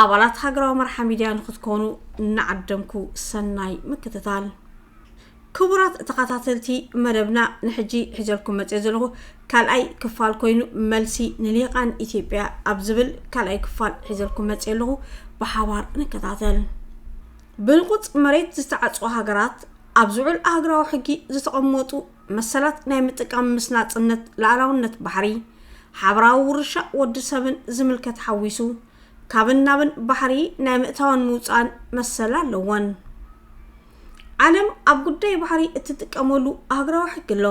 ኣባላት ሃገራዊ መርሓ ሚድያ ንክትኮኑ እናዓደምኩ ሰናይ ምክትታል። ክቡራት ተኻታተልቲ መደብና ንሕጂ ሒዘልኩም መጽየ ዘለኹ ካልኣይ ክፋል ኮይኑ መልሲ ንሊቃን ኢትዮጵያ ኣብ ዝብል ካልኣይ ክፋል ሒዘልኩም መጽየ ኣለኹ ብሓባር ንከታተል። ብህልቁጽ መሬት ዝተዓጽዋ ሃገራት ኣብ ዝዑል ኣህግራዊ ሕጊ ዝተቐመጡ መሰላት ናይ ምጥቃም ምስ ናጽነት ላዕላውነት ባሕሪ ሓበራዊ ውርሻ ወዲ ሰብን ዝምልከት ሓዊሱ ካብን ናብን ባሕሪ ናይ ምእታውን ምውፃእን መሰል ኣለወን። ዓለም ኣብ ጉዳይ ባሕሪ እትጥቀመሉ ሃገራዊ ሕጊ ኣሎ።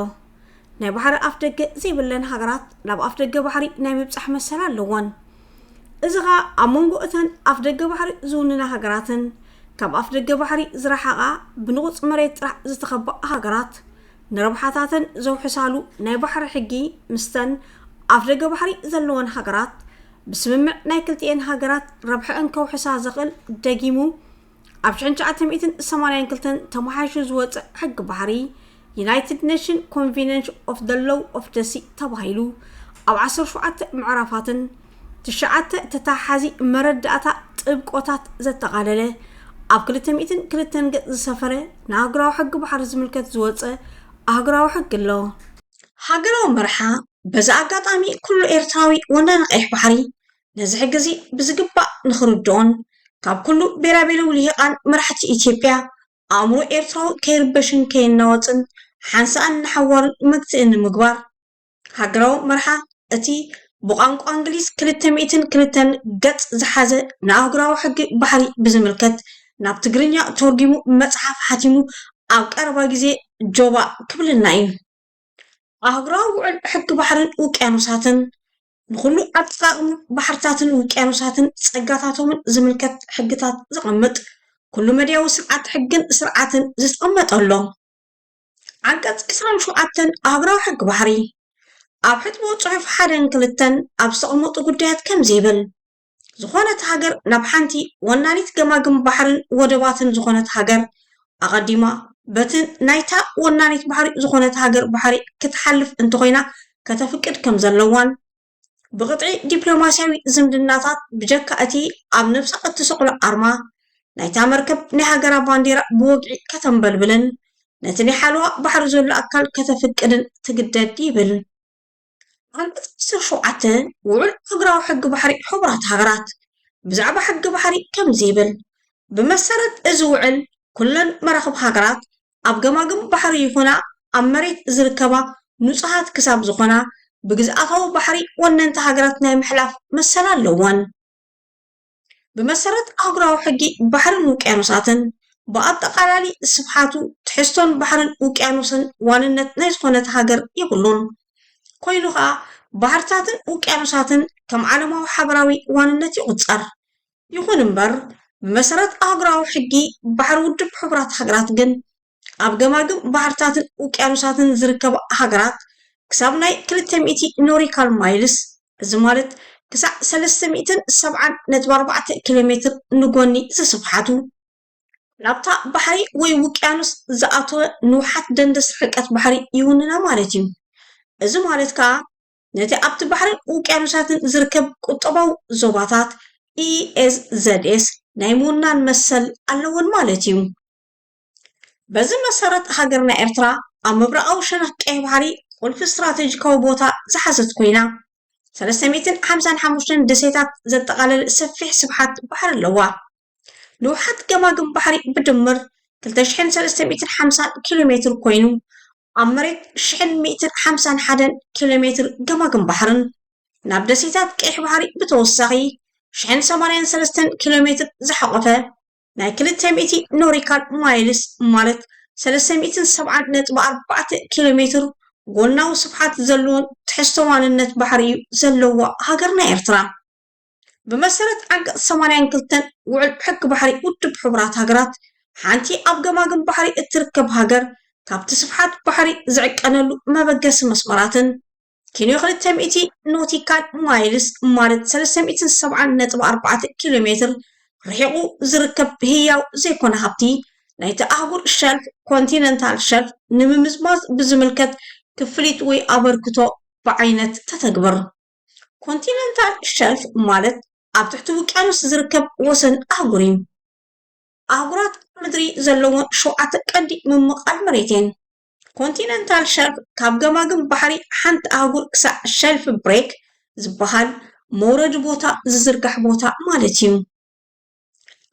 ናይ ባሕሪ ኣፍ ደገ ዘይብለን ሃገራት ናብ ኣፍ ደገ ባሕሪ ናይ ምብፃሕ መሰል ኣለወን። እዚ ኸኣ ኣብ መንጎ እተን ኣፍ ደገ ባሕሪ ዝውንና ሃገራትን ካብ ኣፍ ደገ ባሕሪ ዝረሓቓ ብንቑፅ መሬት ጥራሕ ዝተኸበኣ ሃገራት ንረብሓታተን ዘውሕሳሉ ናይ ባሕሪ ሕጊ ምስተን ኣፍ ደገ ባሕሪ ዘለወን ሃገራት ብስምምዕ ናይ ክልቲኤን ሃገራት ረብሐኣን ከውሕሳ ዘኽእል ደጊሙ ኣብ ሽሕን ትሽዓተ ሚእትን ሰማንያን ክልተን ተመሓይሹ ዝወፀ ሕጊ ባሕሪ ዩናይትድ ኔሽን ኮንቬንሽን ኦፍ ደ ሎው ኦፍ ደሲ ተባሂሉ ኣብ ዓሰርተ ሸውዓተ ምዕራፋትን ትሽዓተ ተተሓሓዚ መረዳእታ ጥብቆታት ዘጠቓለለ ኣብ ክልተ ሚእትን ክልተን ገፅ ዝሰፈረ ንኣህጉራዊ ሕጊ ባሕሪ ዝምልከት ዝወፀ ኣህጉራዊ ሕጊ ኣሎ። ሃገራዊ መርሓ በዚ ኣጋጣሚ ኩሉ ኤርትራዊ ወናኒ ቀይሕ ባሕሪ ነዚ ሕጊ እዚ ብዝግባእ ንኽርድኦን ካብ ኩሉ ቤራቤሩ ልሂቃን መራሕቲ ኢትዮጵያ ኣእምሮ ኤርትራዊ ከይርበሽን ከይናወጽን ሓንሳእን ንሓዋሩን መግትኢ ንምግባር ሃገራዊ መርሓ እቲ ብቋንቋ እንግሊዝ ክልተ ሚእትን ክልተን ገጽ ዝሓዘ ንኣህጉራዊ ሕጊ ባሕሪ ብዝምልከት ናብ ትግርኛ ተርጒሙ መጽሓፍ ሓቲሙ ኣብ ቀረባ ግዜ ጆባእ ክብለና እዩ። ኣህጉራዊ ውዕል ሕጊ ባሕርን ውቅያኖሳትን፣ ንኹሉ ኣጠቓቕማ ባሕርታትን ውቅያኖሳትን ጸጋታቶምን ዝምልከት ሕግታት ዘቐምጥ ኩሉ-መዳያዊ ስርዓት ሕግን ስርዓትን ዝተቐመጠ ኣሎ። ዓንቀፅ ዕስራን ሸውዓተን ኣብራዊ ሕጊ ባሕሪ ኣብ ሕጥቦ ፅሑፍ ሓደን ክልተን ኣብ ዝተቐመጡ ጉዳያት ከምዚ ይብል ዝኾነት ሃገር ናብ ሓንቲ ወናኒት ገማግም ባሕርን ወደባትን ዝኾነት ሃገር ኣቐዲማ በቲ ናይታ ወናኒት ባሕሪ ዝኾነት ሃገር ባሕሪ ክትሓልፍ እንተኾይና ከተፍቅድ ከም ዘለዋን ብቅጥዒ ዲፕሎማሲያዊ ዝምድናታት ብጀካ እቲ ኣብ ነብሳ እትስቅሎ ኣርማ ናይታ መርከብ ናይ ሃገራ ባንዴራ ብወግዒ ከተንበልብልን ነቲ ናይ ሓለዋ ባሕሪ ዘሎ ኣካል ከተፍቅድን ትግደድ ይብል ዓንቀጽ 17 ውዑል ሃገራዊ ሕጊ ባሕሪ ሕቡራት ሃገራት ብዛዕባ ሕጊ ባሕሪ ከምዚ ይብል ብመሰረት እዚ ውዕል ኩለን መራኽብ ሃገራት ኣብ ገማግም ባሕሪ ይኹና ኣብ መሬት ዝርከባ ንጹሃት ክሳብ ዝኾና ብግዝኣታዊ ባሕሪ ወነንቲ ሃገራት ናይ ምሕላፍ መሰል ኣለወን። ብመሰረት ኣህጉራዊ ሕጊ ባሕርን ውቅያኖሳትን፣ ብኣጠቓላሊ ስፍሓቱ፣ ትሕዝቶን ባሕርን ውቅያኖስን ዋንነት ናይ ዝኾነት ሃገር የብሉን። ኮይኑ ከኣ ባሕርታትን ውቅያኖሳትን ከም ዓለማዊ ሓበራዊ ዋንነት ይቑጸር። ይኹን እምበር፣ ብመሰረት ኣህጉራዊ ሕጊ ባሕሪ ውድብ ሕቡራት ሃገራት ግን፣ ኣብ ገማግም ባሕርታትን ውቅያኖሳትን ዝርከባ ሃገራት ክሳብ ናይ ክልተ ሚእቲ ኖሪካል ማይልስ፣ እዚ ማለት ክሳዕ ሰለስተ ሚእትን ሰብዓን ነጥቢ ኣርባዕተ ኪሎሜትር፣ ንጎኒ ዝስፍሓቱ፣ ናብታ ባሕሪ ወይ ውቅያኖስ ዝኣተወ ንውሓት ደንደስ ርሕቀት ባሕሪ ይውንና ማለት እዩ። እዚ ማለት ከኣ፣ ነቲ ኣብቲ ባሕርን ውቅያኖሳትን ዝርከብ ቁጠባዊ ዞባታት፣ ESZS፣ ናይ ምውናን መሰል ኣለወን ማለት እዩ። በዚ መሰረት ሃገርና ኤርትራ ኣብ ምብራቓዊ ሸነኽ ቀይሕ ባሕሪ ቁልፊ ስትራተጂካዊ ቦታ ዝሓዘት ኮይና፣ ሰለስተ ሚእትን ሓምሳን ሓሙሽተን ደሴታት ዘጠቓለለ ሰፊሕ ስፍሓት ባሕሪ ኣለዋ። ንውሓት ገማግም ባሕሪ ብድምር ክልተ ሽሕን ሰለስተ ሚእትን ሓምሳን ኪሎ ሜትር ኮይኑ፣ ኣብ መሬት ሽሕን ሚእትን ሓምሳን ሓደን ኪሎ ሜትር ገማግም ባሕርን ናብ ደሴታት ቀይሕ ባሕሪ ብተወሳኺ ሽሕን ሰማንያን ሰለስተን ኪሎ ሜትር ዝሓቖፈ ናይ ክልተ ሚእቲ ኖሪካል ማይልስ ማለት ሰለስተ ሚእትን ሰብዓን ነጥቢ ኣርባዕተ ኪሎ ሜትር ጎናዊ ስፍሓት ዘለዎን ትሕዝቶ ዋንነት ባሕሪ እዩ ዘለዋ ሃገርና ኤርትራ። ብመሰረት ዓንቀፅ ሰማንያን ክልተን ውዕል ሕጊ ባሕሪ ውድብ ሕቡራት ሃገራት ሓንቲ ኣብ ገማግም ባሕሪ እትርከብ ሃገር ካብቲ ስፍሓት ባሕሪ ዝዕቀነሉ መበገሲ መስመራትን ኪሎ ክልተ ሚእቲ ኖቲካል ማይልስ ማለት ሰለስተ ሚእትን ሰብዓን ነጥቢ ኣርባዕተ ኪሎ ሜትር ርሒቑ ዝርከብ ህያው ዘይኮነ ሃብቲ ናይቲ ኣህጉር ሸልፍ ኮንቲነንታል ሸልፍ ንምምዝማዝ ብዝምልከት ክፍሊት ወይ ኣበርክቶ ብዓይነት ተተግብር ኮንቲነንታል ሸልፍ ማለት ኣብ ትሕቲ ውቅያኖስ ዝርከብ ወሰን ኣህጉር እዩ። ኣህጉራት ምድሪ ዘለወን ሸውዓተ ቀንዲ ምምቓል መሬት እየን። ኮንቲነንታል ሸልፍ ካብ ገማግም ባሕሪ ሓንቲ ኣህጉር ክሳዕ ሸልፍ ብሬክ ዝበሃል መውረዲ ቦታ ዝዝርጋሕ ቦታ ማለት እዩ።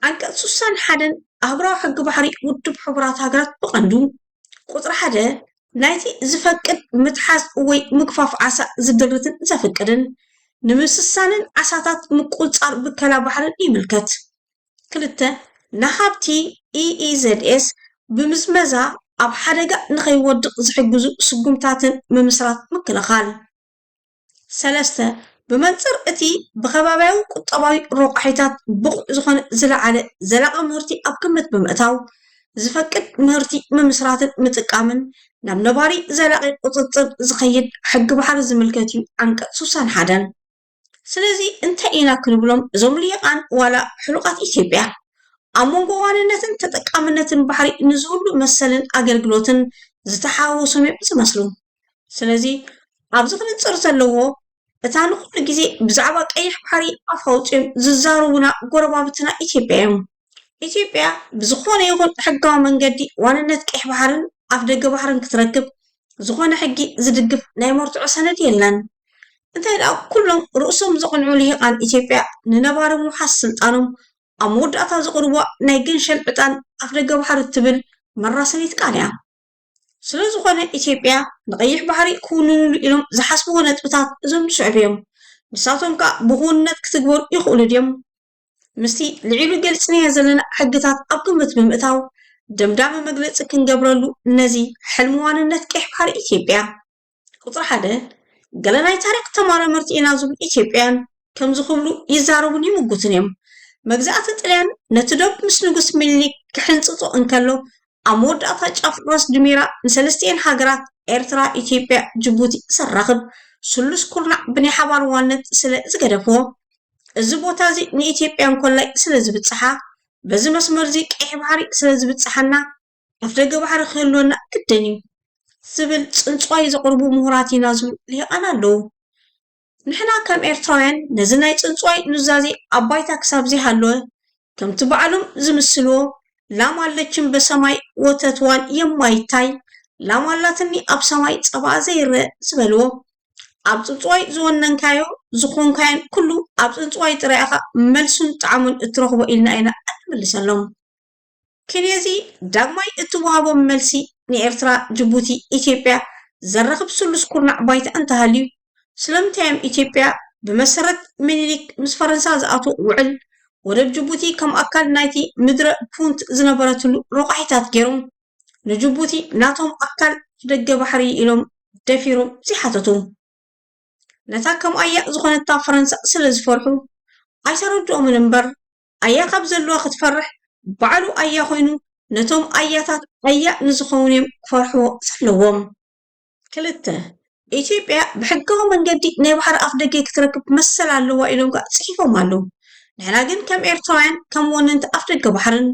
ዓንቀፅ ስሳን ሓደን ኣህጉራዊ ሕጊ ባሕሪ ውድብ ሕቡራት ሃገራት ብቐንዱ ቁፅሪ ሓደ ናይቲ ዝፈቅድ ምትሓዝ ወይ ምግፋፍ ዓሳ ዝድርትን ዘፍቅድን ንምስሳንን ዓሳታት ምቁፅፃር ብከላ ባሕርን ይምልከት። ክልተ ንሃብቲ ኢኢዘድኤስ ብምዝመዛ ኣብ ሓደጋ ንኸይወድቕ ዝሕግዙ ስጉምታትን ምምስራት ምክልኻል ሰለስተ፣ ብመንጽር እቲ ብከባብያዊ ቁጠባዊ ሮቋሒታት ብቑዕ ዝኾነ ዝለዓለ ዘላቒ ምህርቲ ኣብ ግምት ብምእታው ዝፈቅድ ምህርቲ ምምስራትን ምጥቃምን ናብ ነባሪ ዘላቒ ቁጽጽር ዝኸይድ ሕጊ ባሕሪ ዝምልከት እዩ፣ ዓንቀጽ ስሳን ሓደን። ስለዚ እንታይ ኢና ክንብሎም እዞም ሊሂቃን ዋላ ሕሉቓት ኢትዮጵያ ኣብ መንጎ ዋንነትን ተጠቃምነትን ባሕሪ ንዝህሉ መሰልን ኣገልግሎትን ዝተሓዋወሶም'ዮም ዝመስሉ። ስለዚ ኣብዚ ክንፅር ዘለዎ እታ ንኹሉ ግዜ ብዛዕባ ቀይሕ ባሕሪ ኣፍ ኣውፂኦም ዝዛረቡና ጎረባብትና ኢትዮጵያ እዮም። ኢትዮጵያ ብዝኾነ ይኹን ሕጋዊ መንገዲ ዋንነት ቀይሕ ባሕርን ኣፍ ደገ ባሕርን ክትረክብ ዝኾነ ሕጊ ዝድግፍ ናይ መርትዖ ሰነድ የለን። እንታይ ደኣ ኩሎም ርእሶም ዘቕንዑ ልሂቓን ኢትዮጵያ ንነባሪ ምውሓስ ስልጣኖም ኣብ መወዳእታ ዘቕርቧ ናይ ገንሸል ዕጣን ኣፍ ደገ ባሕሪ እትብል መራሰኒት ቃል እያ። ስለዝኾነ ኢትዮጵያ ንቀይሕ ባሕሪ ክውንንሉ ኢሎም ዝሓስብዎ ነጥብታት እዞም ዝስዕቡ እዮም። ንሳቶም ከዓ ብክውንነት ክትግበሩ ይኽእሉ ድዮም? ምስቲ ልዒሉ ገልፅናዮ ዘለና ሕግታት ኣብ ግምት ብምእታው ደምዳሚ መግለፂ ክንገብረሉ ነዚ ሕልሚ ዋንነት ቀይሕ ባሕሪ ኢትዮጵያ ቁፅሪ ሓደ ገለ ናይ ታሪኽ ተመራመርቲ ኢና ዝብሉ ኢትዮጵያውያን ከምዚ ክብሉ ይዛረቡን ይምጉቱን እዮም። መግዛእቲ ጥልያን ነቲ ዶብ ምስ ንጉስ ሚኒሊክ ክሕንጽጾ እንከሎ ኣብ መወዳእታ ጫፍ ራስ ድሜራ ንሰለስቲኤን ሃገራት ኤርትራ፣ ኢትዮጵያ፣ ጅቡቲ ዘራኽብ ስሉስ ኩርናዕ ብናይ ሓባር ዋነት ስለ ዝገደፎ እዚ ቦታ እዚ ንኢትዮጵያን ኮላይ ስለ ዝብጽሓ በዚ መስመር እዚ ቀይሕ ባሕሪ ስለ ዝብጽሓና ኣፍደገ ባሕሪ ክህልወና ግድን እዩ ዝብል ፅንፅዋይ ዘቕርቡ ምሁራት ኢና ዝብሉ ሊሂቃን ኣለዉ። ንሕና ከም ኤርትራውያን ነዚ ናይ ፅንፅዋይ ኑዛዜ ኣብ ባይታ ክሳብ ዘይሃለወ ከምቲ ባዕሎም ዝምስልዎ ላም ኣለችም በሰማይ ወተትዋን የማይታይ ላም ኣላትኒ ኣብ ሰማይ ፀባኣ ዘይረእ ዝበልዎ ኣብ ፅንፅዋይ ዝወነንካዮ ዝኾንካዮን ኩሉ ኣብ ፅንፅዋይ ጥራይ ኢኻ መልሱን ጣዕሙን እትረኽቦ ኢልና ኢና እንምልሰሎም። ኪንየ'ዚ ዳግማይ እትወሃቦም መልሲ ንኤርትራ፣ ጅቡቲ፣ ኢትዮጵያ ዘራኽብ ስሉስ ኩርናዕ ባይታ እንተሃልዩ፣ ስለምንታይ'ዮም ኢትዮጵያ ብመሰረት ሚኒሊክ ምስ ፈረንሳ ዝኣትዎ ውዕል፣ ወደብ ጅቡቲ ከም ኣካል ናይቲ ምድረ ፑንት ዝነበረትሉ ረቋሒታት ገይሮም ንጅቡቲ ናቶም ኣካል ደገ ባሕሪ ኢሎም ደፊሮም ዘይሓተቱ? ነታ ከምኣያ ዝኾነታ ፈረንሳ ስለዝፈርሑ ኣይተረድኦምን እምበር፣ ኣያ ካብ ዘልዋ ክትፈርሕ ባዕሉ ኣያ ኮይኑ ነቶም ኣያታት ኣያ ንዝኸውን እዮም ክፈርሕዎ ዘለዎም። ክልተ፣ ኢትዮጵያ ብሕጋዊ መንገዲ ናይ ባሕሪ ኣፍደገ ክትረክብ መሰል ኣለዋ ኢሎም ከኣ ጽሒፎም ኣለዉ። ንሕና ግን ከም ኤርትራውያን ከም ወነንቲ ኣፍደገ ባሕርን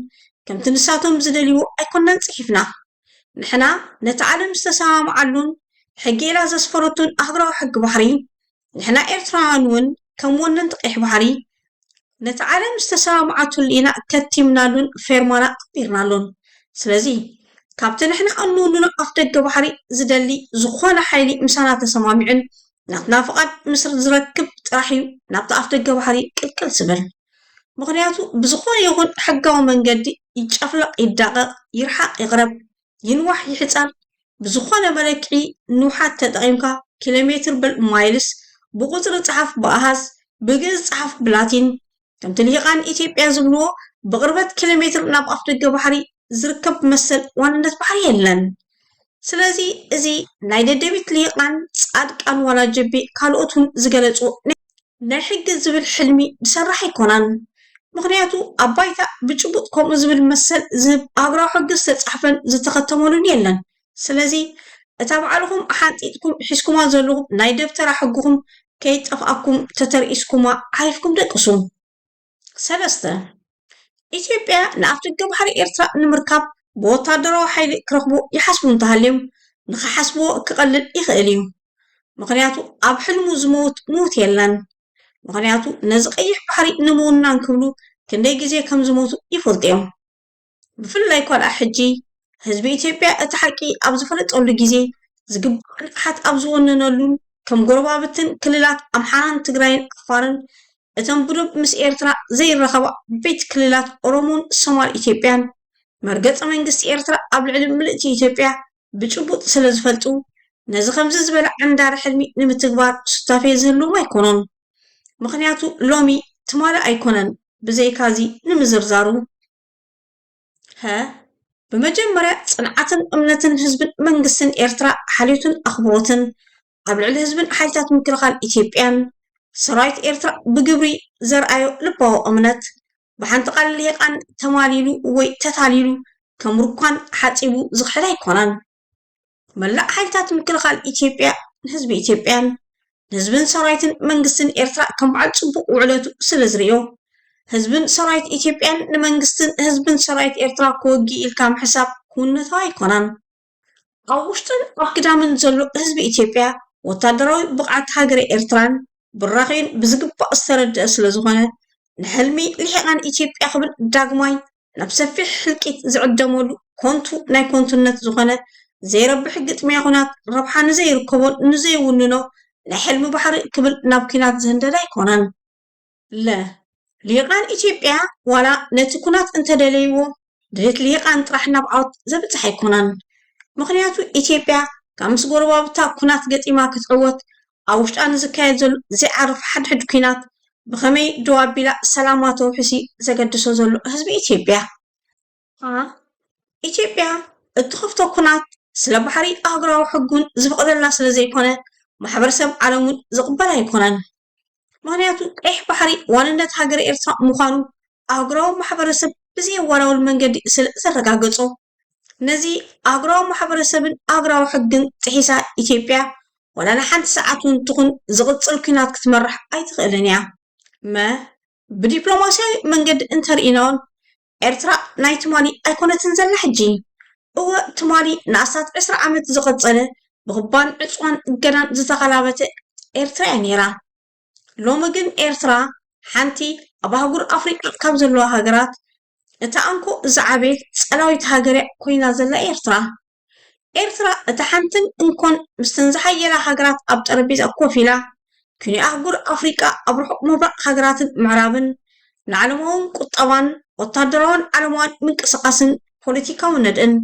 ከምቲ ንሳቶም ዝደልይዎ ኣይኮናን ጽሒፍና። ንሕና ነቲ ዓለም ዝተሰማምዓሉን ሕጊ ኢላ ዘስፈረቶን ኣህጉራዊ ሕጊ ባሕሪ ንሕና ኤርትራውያን እውን ከም ወነንቲ ቀይሕ ባሕሪ ነቲ ዓለም ዝተሰማምዓትሉ ኢና ከቲምናሉን ፌርማና ኣንቢርናሉን። ስለዚ ካብቲ ንሕና እንውንኖ ኣፍደገ ባሕሪ ዝደሊ ዝኾነ ሓይሊ ምሳና ተሰማሚዑን ናትና ፍቓድ ምስ ዝረክብ ጥራሕ እዩ ናብቲ ኣፍደገ ባሕሪ ቅልቅል ዝብል። ምኽንያቱ ብዝኾነ ይኹን ሕጋዊ መንገዲ ይጨፍለቕ ይዳቐቕ ይርሓቕ ይቕረብ ይንዋሕ ይሕጸር ብዝኾነ መለክዒ ንውሓት ተጠቒምካ ኪሎ ሜትር በል ማይልስ ብቑጽሪ ጸሓፍ ብኣሃዝ ብግእዝ ጸሓፍ ብላቲን ከምቲ ልሂቃን ኢትዮጵያ ዝብልዎ ብቕርበት ኪሎ ሜትር ናብ ኣፍደገ ባሕሪ ዝርከብ መሰል ዋንነት ባሕሪ የለን ስለዚ እዚ ናይ ደደቢት ልሂቃን ጻድቃን ዋላ ጅቢ ካልኦት ውን ዝገለጽዎ ናይ ሕጊ ዝብል ሕልሚ ዝሰራሕ ኣይኮናን። ምኽንያቱ ኣብ ባይታ ብጭቡጥ ከምኡ ዝብል መሰል ዝህብ ሃገራዊ ሕጊ ዝተጻሕፈን ዝተኸተመሉን የለን። ስለዚ እታ ባዕልኹም ሓንጢጥኩም ሒዝኩማ ዘለኹም ናይ ደብተራ ሕግኹም ከይጠፍኣኩም ተተርኢስኩማ ዓሪፍኩም ደቅሱ። ሰለስተ፣ ኢትዮጵያ ንኣፍደገ ባሕሪ ኤርትራ ንምርካብ ብወታደራዊ ሓይሊ ክረኽቡ ይሓስቡ እንተሃልዮም፣ ንኽሓስብዎ ክቐልል ይኽእል እዩ። ምኽንያቱ ኣብ ሕልሙ ዝመውት ምውት የለን። ምኽንያቱ ነዚ ቀይሕ ባሕሪ ንምውናን ክብሉ ክንደይ ግዜ ከም ዝሞቱ ይፈልጡ እዮም። ብፍላይ እኳ ድኣ ሕጂ ህዝቢ ኢትዮጵያ እቲ ሓቂ ኣብ ዝፈለጠሉ ግዜ ዝግባእ ንቕሓት ኣብ ዝወነነሉን ከም ጎረባብትን ክልላት ኣምሓራን ትግራይን ዓፋርን እተን ብዶብ ምስ ኤርትራ ዘይራኸባ ዓበይቲ ክልላት ኦሮሞን ሶማል ኢትዮጵያን መርገጺ መንግስቲ ኤርትራ ኣብ ልዕሊ ምልእቲ ኢትዮጵያ ብጭቡጥ ስለ ዝፈልጡ ነዚ ከምዚ ዝበለ ዓንዳሪ ሕልሚ ንምትግባር ሱታፌ ዝህልዎም ኣይኮኑን። ምኽንያቱ ሎሚ ትማሊ ኣይኮነን። ብዘይካዚ ንምዝርዛሩ ሀ ብመጀመርያ ፅንዓትን እምነትን ህዝብን መንግስትን ኤርትራ ሓልዮትን ኣኽብሮትን ኣብ ልዕሊ ህዝብን ሓይልታት ምክልኻል ኢትዮጵያን ሰራዊት ኤርትራ ብግብሪ ዘርኣዮ ልባዊ እምነት ብሓንቲ ቃል ሊሂቃን ተማሊሉ ወይ ተታሊሉ ከም ሩኳን ሓፂቡ ዝኽሕድ ኣይኮነን። መላእ ሓይልታት ምክልኻል ኢትዮጵያ ንህዝቢ ኢትዮጵያን ንህዝብን ሰራዊትን መንግስትን ኤርትራ ከም በዓል ፅቡቕ ውዕለቱ ስለ ዝርእዮ ህዝብን ሰራዊት ኢትዮጵያን ንመንግስትን ህዝብን ሰራዊት ኤርትራ ክወጊ ኢልካ ምሕሳብ ክውነታዊ ኣይኮነን። ኣብ ውሽጥን ኣብ ግዳምን ዘሎ ህዝቢ ኢትዮጵያ ወታደራዊ ብቕዓት ሃገረ ኤርትራን ብራኺኡን ብዝግባእ ዝተረድአ ስለዝኾነ ንሕልሚ ልሒቓን ኢትዮጵያ ክብል ዳግማይ ናብ ሰፊሕ ህልቂት ዝዕደመሉ ኮንቱ ናይ ኮንቱነት ዝኾነ ዘይረብሕ ግጥሚያ ኩናት ረብሓ ንዘይርከቦን ንዘይውንኖ ናይ ሕልሚ ባሕሪ ክብል ናብ ኩናት ዝህንደድ ኣይኮነን። ለ። ሊሂቃን ኢትዮጵያ ዋላ ነቲ ኩናት እንተደለይዎ ድሌት ሊሂቃን ጥራሕ ናብ ዓወት ዘብጽሕ ኣይኮነን። ምኽንያቱ ኢትዮጵያ ካብ ምስ ጎረባብታ ኩናት ገጢማ ክትዕወት ኣብ ውሽጣ ንዝካየድ ዘሎ ዘይዓርፍ ሓድሕድ ኲናት ብኸመይ ደው ኣቢላ ሰላማ ተውሕስ'ዩ ዘገድሶ ዘሎ ህዝቢ ኢትዮጵያ። a ኢትዮጵያ እትኸፍቶ ኲናት ስለ ባሕሪ ኣህጉራዊ ሕጊ'ውን ዝፍቕደላ ስለ ዘይኮነ ማሕበረሰብ ዓለም'ውን ዝቕበል ኣይኮነን። ምኽንያቱ ቀይሕ ባሕሪ ዋንነት ሃገረ ኤርትራ ምዃኑ ኣህጉራዊ ማሕበረሰብ ብዘየወላውል መንገዲ ስለ ዘረጋገጾ። ነዚ ኣህጉራዊ ማሕበረሰብን ኣህጉራዊ ሕግን ጥሒሳ ኢትዮጵያ ዋላ ንሓንቲ ሰዓት እውን ትኹን ዝቕፅል ኲናት ክትመርሕ ኣይትኽእልን እያ። መ፣ ብዲፕሎማስያዊ መንገዲ እንተርኢናውን ኤርትራ ናይ ትማሊ ኣይኮነትን ዘላ ሕጂ። እወ ትማሊ ንኣስታት ዕስራ ዓመት ዝቐፀለ ብኽባን ዕፅዋን እገዳን ዝተኸላበተ ኤርትራ እያ ነይራ። ሎሚ ግን ኤርትራ ሓንቲ ኣብ ኣህጉር ኣፍሪቃ ካብ ዘለዋ ሃገራት እታ እንኮ ዝዓበየት ጸላዊት ሃገር እያ ኮይና ዘላ ኤርትራ። ኤርትራ እታ ሓንትን እንኮን ምስተን ዝሓየላ ሃገራት ኣብ ጠረጴዛ ኮፍ ኢላ ክንዮ ኣህጉር ኣፍሪቃ ኣብ ርሑቕ ምብራቕ ሃገራትን ምዕራብን ንዓለማውን ቁጠባን ወታደራውን ዓለማውን ምንቅስቓስን ፖለቲካዊ ነድእን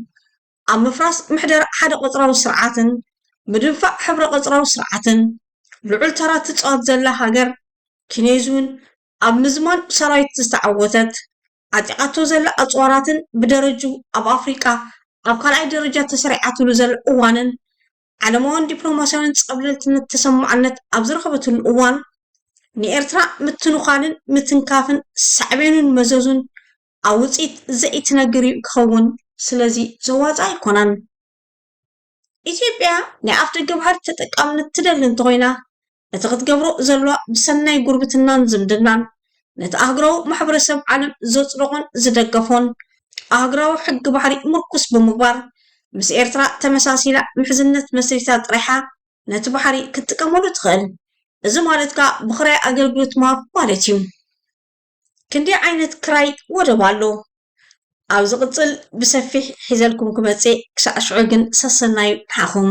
ኣብ ምፍራስ ምሕደራ ሓደ ቐጽራዊ ስርዓትን ምድንፋዕ ሕብረ ቐጽራዊ ስርዓትን ልዑል ተራ እትጻወት ዘላ ሃገር ኪኔዝ'ውን ኣብ ምዝማን ሰራዊት ዝተዓወተት ዓጢቓቶ ዘላ ኣጽዋራትን ብደረጅኡ ኣብ ኣፍሪቃ ኣብ ካልኣይ ደረጃ ተሰሪዓትሉ ዘላ እዋንን ዓለማውን ዲፕሎማስያውን ጸብለልትነት ተሰማዕነት ኣብ ዝረኸበትሉ እዋን ንኤርትራ ምትንዃልን ምትንካፍን ሳዕቤኑን መዘዙን ኣብ ውጽኢት ዘኢትነግር'ዩ ክኸውን። ስለዚ ዘዋጽእ ኣይኮነን። ኢትዮጵያ ናይ ኣፍደገ ባሕሪ ተጠቃምነት ትደሊ እንተኾይና፣ እቲ ክትገብሮ ዘለዋ ብሰናይ ጉርብትናን ዝምድናን፣ ነቲ ኣህጉራዊ ማሕበረሰብ ዓለም ዘጽደቖን ዝደገፎን ኣህጉራዊ ሕጊ ባሕሪ ምርኩስ ብምግባር፣ ምስ ኤርትራ ተመሳሲላ ምሕዝነት መስሪታ ጥራይ'ያ ነቲ ባሕሪ ክትጥቀመሉ ትኽእል። እዚ ማለት ከኣ ብኽራይ ኣገልግሎት ምሃብ ማለት'ዩ። ክንደይ ዓይነት ክራይ ወደብ ኣሎ? ኣብ ዝቕጽል ብሰፊሕ ሒዘልኩም ክመጽእ እየ ክሳዕ ሽዑ ግን ሰሰናዩ ንዓኹም።